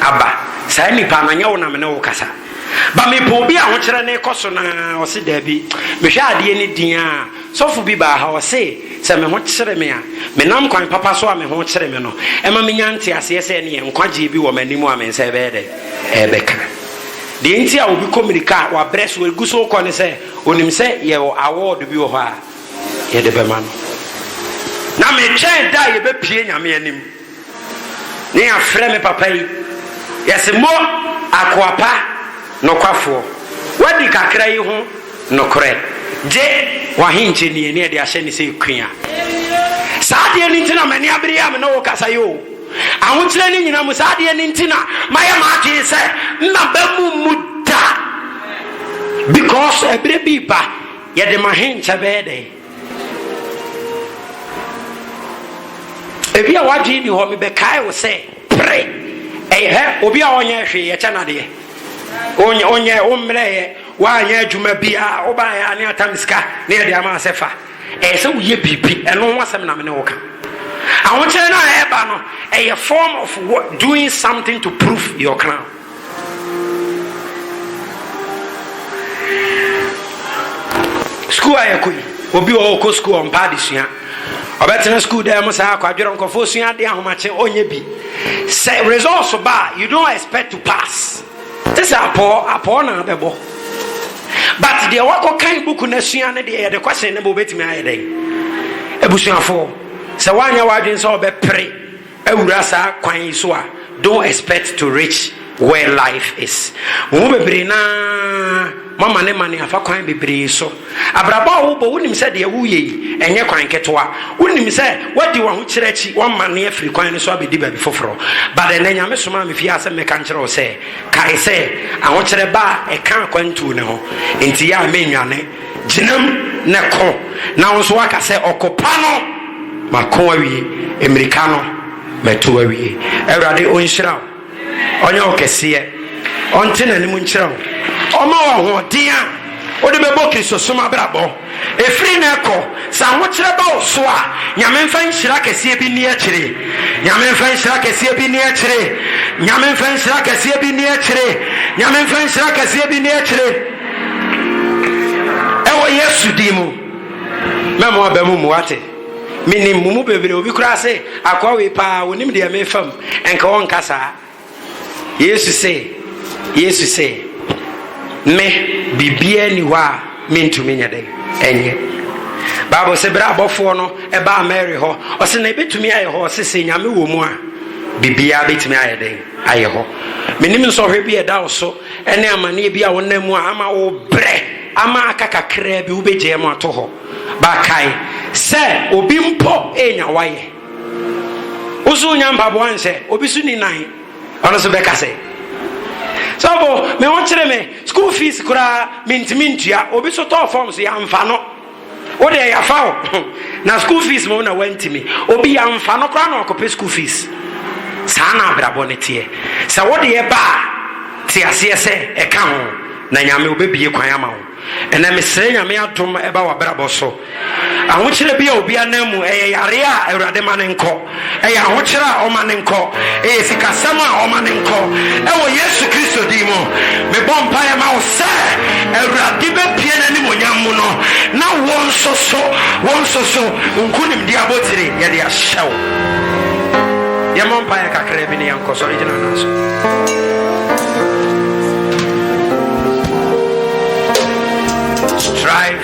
Speaker 1: aba. Saa nipa no nyɛ wo na me ne wo kasa. Ba mepɛ obi a ahokyerɛ ne kɔ so na ɔse daabi, mehwɛ adeɛ ne din a Sɔfo bi baa ha, ɔse sɛ me ho kyere me a, me nam kwan papa so a me ho kyere me no, ɛma me nya nteaseɛ sɛ ɛneɛ nkwagyeɛ bi wɔ m'anim a me nsa ɛbɛyɛ dɛn? Ɛrebɛka. Deɛ nti a obi kɔ mirika a wabrɛ so ɛgu so rekɔ ne sɛ onim sɛ yɛwɔ award bi wɔ hɔ a yɛde bɛma no. Na me twɛn da a yɛbɛpue Nyame anim. Ne yɛafrɛ me papa yi, yɛse mo akoa pa nokwafoɔ, woadi kakra yi ho nokorɛ, gye w'ahenkyɛ nie ne yɛde ahyɛ ne sɛ kua. Saa adeɛ no nti na m'ani abere yi a me ne wo kasa yi o. Ahokyerɛ no nyina mu, saa adeɛ no nti na mayɛ m'adwene sɛ nna bɛmmu mmu da, because ɛberɛ bi reba yɛde m'ahenkyɛ bɛyɛ dɛn? ebi a wadwene ni hɔ mebɛkae wo sɛ pere ɛyɛ hɛ obi a ɔnyɛ hwee yɛkyɛ nadeɛ onyɛ wommrɛyɛ woanyɛ adwuma biaa wobaeɛ a ne atam sika ne yɛde ama sɛ fa ɛyɛ sɛ woyɛ biribi ɛno ho asɛm na me ne wo ka ahokyerɛ no a ɛba no ɛyɛ form of doing something to prove your crown sukuu a yɛkɔ yi obi wɔ ɔkɔ sukuu ɔmpa adesua ɔbɛtena sukuu dan mu saa akwadwerɛ nkɔfoɔ sua adeɛ ahomakye ɔnyɛ bi sɛ results ba you don't expect to pass te sɛ apɔɔ apɔɔ na abɛbɔ but deɛ wakɔ kan buku no asua no deɛ yɛde question no bɛ wobɛtumi ayɛ dɛn abusuafoɔ sɛ woanyɛ w'adwene sɛ ɔbɛpere awura saa kwan yi so a, don't expect to reach where life is. Mo mu bebree no ara moamanemane afa kwan bebree so. Abrabɔ a wobɔ, wonim sɛ deɛ woreyɛ yi, ɛnyɛ kwan ketewa. Wonim sɛ woadi w'ahokyerɛ akyi, woamane afiri kwan no so abɛdi baabi foforɔ. But ɛnnɛ, Nyame somaa me fie ha sɛ mɛka nkyerɛ wo sɛ, kae sɛ, ahokyerɛ ba a, ɛka akwantuo no ho. Enti yɛ a mennwane. Gyinam na ko, na wo nso woaka sɛ, Ɔko pa no, mako awie, mmirika no, matu awie. Awurade ɔnhyira wo, ɔnyɛ wo kɛseɛ, ɔnte n'anim nkyerɛ wo, ɔmma wo ahoɔden a wode bɛbɔ Kristosom abrabɔ. Ɛfiri nnɛ kɔ, sɛ ahokyerɛ ba wo so a, Nyame mfa nhyira kɛseɛ bi nni akyire. Nyame mfa nhyira kɛseɛ bi nni akyire. Nyame mfa nhyira kɛseɛ bi nni akyire. Nyame mfa nhyira kɛseɛ bi nni akyire. Ɛwɔ Yesu din mu, mɛ mo aba mu mu ate. Menim mo mu bebree, obi koraa se, Akoa wei paa, wɔnim deɛ merefa mu, nka wɔnka saa. Yesu se, Yesu se, Me, biribiara ni hɔ a mentumi nyɛ dɛn ɛnyɛ. Bible se berɛ abɔfoɔ no ɛbaa Mary hɔ, ɔse na ɛbɛtumi ayɛ hɔ, ɔse sɛ Nyame wɔ mu a, biribiara bɛtumi ayɛ dɛn ayɛ hɔ. Menim nsɔhwɛ bi ɛda wo so, ne amaneɛ bi a wonam mu a ama wo berɛ ama aka kakraa bi wobɛgyaa mu ato hɔ ba kae sɛ obi mpo ɛnya wayɛ wo so wonya mpaboa nhyɛ obi so ni nan ɔno so bɛka sɛ sɔfo me ho kyere me school fees koraa mentumi ntua obi so tɔɔ fam so yɛamfa no Wo deɛ yafa wo na school fees mo na wantimi obi yɛnfa no koraa na wakɔpɛ school fees saa na abrabɔ no teɛ sɛ wo deɛ ba a te aseɛ sɛ ɛka ho na nyame obɛbie kwan ama wo ɛnɛ mesrɛ nyame adom ɛba wabrabɔ so ahokyerɛ bi a obi anan mu ɛyɛ yareɛ a awurade ma no nkɔ Ɛyɛ ahokyerɛ a ɔma no nkɔ. Ɛyɛ sikasɛm a ɔma no nkɔ. Ɛwɔ Yesu Kristo din mu, mebɔ mpaeɛ ma wo sɛ Awurade bɛpue n'animuonyam mu no, na wo nso so, wo nso so, wo nkonimdie abotire yɛde ahyɛ wo. Yɛmmɔ mpaeɛ kakraa bi na yɛnkɔ. Sɔre gyina wo nan so. Strive.